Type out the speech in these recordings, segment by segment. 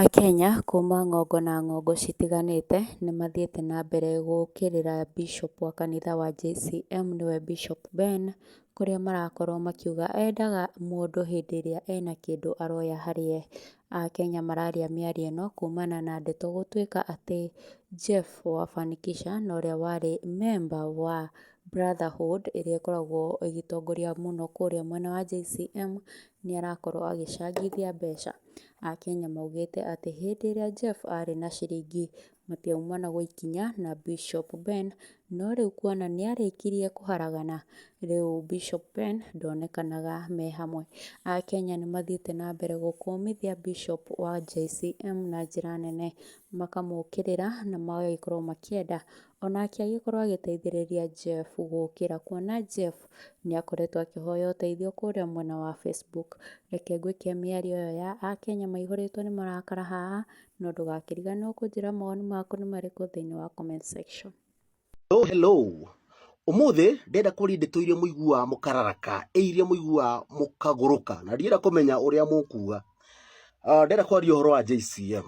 Akenya kuma ng'ongo na ng'ongo citiganĩte nĩ mathiĩte na mbere gũkĩrĩra Bishop wa kanitha wa JCM nĩwe Bishop Ben, kũrĩa marakorwo makiuga endaga mũndũ hĩndĩ ĩrĩa ena kĩndũ aroya harĩ ye. Akenya mararia mĩario ĩno kumana na ndeto gũtuĩka atĩ Jeff wa Fanikisha na ũrĩa warĩ member wa Brotherhood ĩrĩa ĩkoragwo ĩgĩtongoria mũno kũrĩa mwena wa JCM nĩ arakorwo agĩcangithia mbeca. a Kenya maugĩte atĩ hĩndĩ ĩrĩa Jeff arĩ na ciringi matiaumana gũikinya na Bishop Ben, no rĩu kuona nĩarĩkirie kũharagana, rĩu Bishop Ben ndonekanaga me hamwe. A Kenya nĩmathiĩte na mbere gũkũmithia Bishop wa JCM na njĩra nene, makamũkĩrĩra na magagĩkorwo makĩenda O nake agĩkorũo agĩteithĩrĩria Jeff gũũkĩra, kuona Jeff nĩ akoretwo akĩhoya ũteithio kũrĩa mwena wa Facebook. Reke ngwĩke mĩario ĩyo ya Akenya maihũrĩtwo nĩ marakara haha, no ndũgakĩriganĩrũo kũnjĩra mawoni maku nĩ marĩkũ thĩinĩ wa comment section. Hello hello Ũmũthĩ ndĩrenda kũaria ndeto iria mũiguaga mũkararaka, ĩ iria mũiguaga mũkagũrũka, na ndĩrenda kũmenya ũrĩa mũkuga. Ah, Ndĩrenda kũaria ũhoro wa JCM.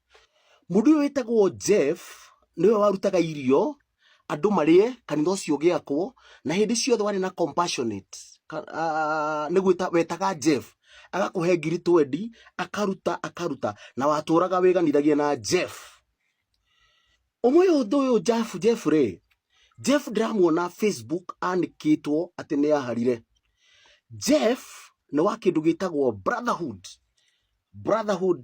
Mũndũ ũyũ wĩtagwo Jeff nĩwe warutaga irio andũ marĩe kanitha ũcio ũgĩakwo na hĩndĩ ciothe warĩ na compassionate nĩ gwĩta wetaga Jeff agakũhe ngiri twendi akaruta akaruta na watũraga wĩganithagia na Jeff ũmwe ũndũ ũyũ Jeff Jeff rĩ Jeff ndĩramuona Facebook anĩkĩtwo atĩ nĩ aharire Jeff nĩ wa kĩndũ gĩtagwo brotherhood brotherhood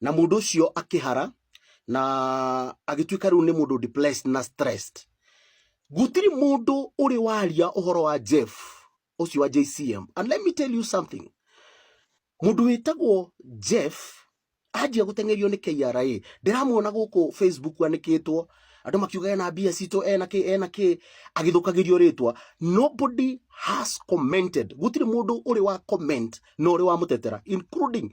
na mundu ucio akihara na agituika riu ni mundu depressed na stressed gutiri mundu uri waria uhoro wa Jeff ucio wa JCM and let me tell you something mundu witagwo Jeff anjia gutengerio ni KRA ndiramuona guku Facebook anikitwo andu makiuga ena mbia citå ena kä ena kä agithukagä ritwa nobody has commented gutire mundu uri wa comment no uri wa mutetera including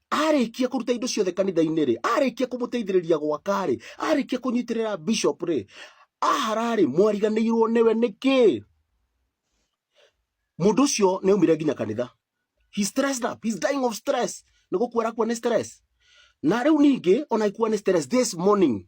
arĩkia kũruta indo ciothe kanitha-inĩ rĩ arĩkia kũmũteithĩrĩria gwaka rĩ arĩkia kũnyitĩrĩra bishop rĩ ahara rĩ mwariganĩirwo nĩwe nĩkĩ mũndũ ũcio nĩ aumire nginya kanitha he stressed up he's dying of stress nĩ gũkua arakua nĩ stress na rĩu ningĩ ona ikuwa nĩ stress this morning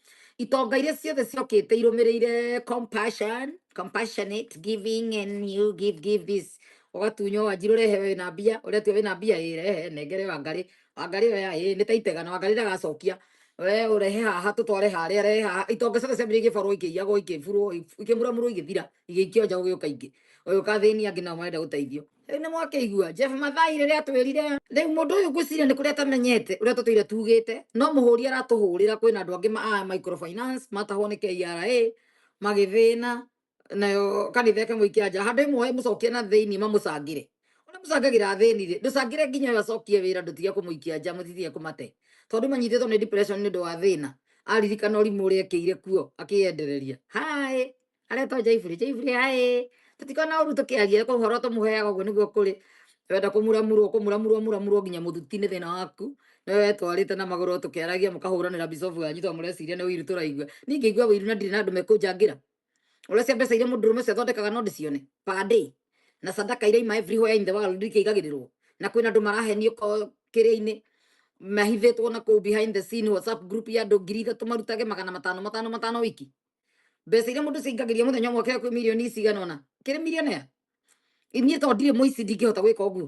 itonga iria ciothe ciokite irumirire compassion compassionate giving and you give give this ugatunywo wanjiru rehe we na mbia uria tu we na mbia ĩ rehe nengere wangari wangari we ĩ nĩ taitega na wangari ndagacokia we urehe haha tutware haria rehe haha itonga ciothe ciambire igĩborwo ikĩiyagwo ikĩburwo ikĩmuramurwo igĩthira igĩikio nja gũgĩũka ingĩ ũyũ ũkathĩnia angĩ nao marenda gũteithio Rĩu nĩ mwakĩigua Jeff Mathai rĩrĩa atwĩrire rĩu mũndũ ũyũ ngwĩciria nĩ kũrĩa atamenyete ũrĩa tũtũire tugĩte no mũhũri aratũhũrĩra kwĩna andũ angĩ ma a microfinance matahwo nĩ KRA magĩthĩna nayo kanitha ĩke mũikia nja handũ ĩmwe mũcokie na thĩinĩ mamũcangĩre ũrĩa mũcangagĩra athĩni rĩ ndũcangĩre nginya ũyũ acokie wĩra ndũtige kũmũikia nja mũtitige kũmate tondũ manyitĩtwo nĩ depression nĩ ũndũ wa thĩna aririkana ũrimũ ũrĩa ekĩire kuo akĩyendereria haĩ aretwo jaiburi jaiburi ae tutikona uru tukiaria ko horo tumuheaga guo niguo kuri wenda kumuramurwo kumuramurwo muramurwo nginya muthuti ni thina waku ni we twarite na maguru tukiaragia mukahuranira bisofu yanyu to mureciria ni wiru turaigua ningi igua wiru na ndiri na andu mekunjangira urecia mbeca iria mundu rume cio thondekaga no ndicione per day na sadaka iria ima everywhere in the world ikaigagirirwo na kwina andu marahenio ko kiria-ini mahithitwo na kuu behind the scene whatsapp group ya andu ngiri ithatu marutage magana matano matano matano wiki mbeca iria mundu cingagĩria muthenya ũmwe kĩrĩa kwĩ mirioni cigana ona kĩrĩ millionaire inyie to ndirĩ muici ndingĩhota gwĩka ũguo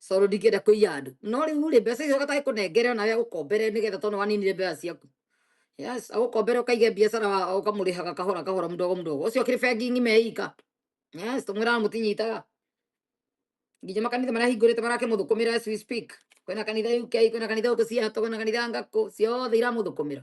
coro ndingĩenda kũiya andũ no rĩu rĩ mbeca icio gataĩ kũnengere ona ya gũkombere nĩgetha tondũ waninire mbeca ciaku yes agũkombere ũkaige biacara wa- ũkamũrĩhaga kahora kahora mdogo mdogo ũcio kĩrĩ bengi ng'ima ĩika yes tũmwĩraga mũtinyitaga nginya makanitha marĩa hingũrĩte marakĩmũthũkũmĩra as we speak kwĩna kanitha UK kwĩna kanitha ũkũ ciato kwĩna kanitha ngakũ ciothe iramũthũkũmĩra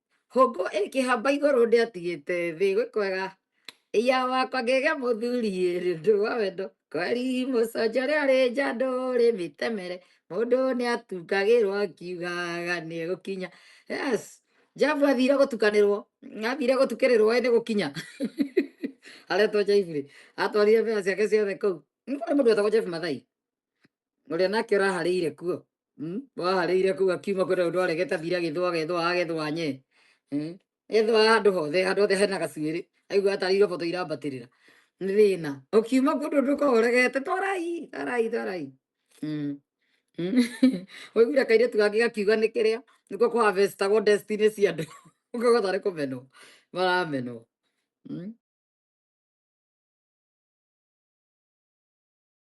hũngũ ĩkĩhamba igũrũ ndĩatigĩte thĩ gwĩ kwega iya wakwa ngĩgĩa mũthuri ĩrĩ ndũ wa wendo kweri mũconjo rĩa rĩ njandũ rĩ mĩtemere mũndũ nĩ atungagĩrwo akiugaga nĩ gũkinya yes jabu athire gũtukanĩrwo athire gũtukĩrĩrwo ĩ nĩ gũkinya aretwo jaibu rĩ atwarire mbea ciake ciothe kũu nĩ mũndũ wetagwo jebu mathai ũrĩa nake ũraharĩire kuo Mm? waharĩire kũu akiuma kwĩna ũndũ aregeta thira agĩthwa agethwa agethwa nye Mm? ethwa handũ hothe handũ hothe hena gacuĩrĩ aigua atarĩirwo boto irambatĩrĩra nĩ thĩna ũkiuma kũndũ ũndũ ũkoragwo ũregete twarai twarai twarai Mm. Mm. waiguire kairĩtu gangĩ gakiuga nĩ kĩrĩa nĩko kũ harvestagwo destiny cia andũ ũkauga tarĩ kũmenwo maramenwo Mm.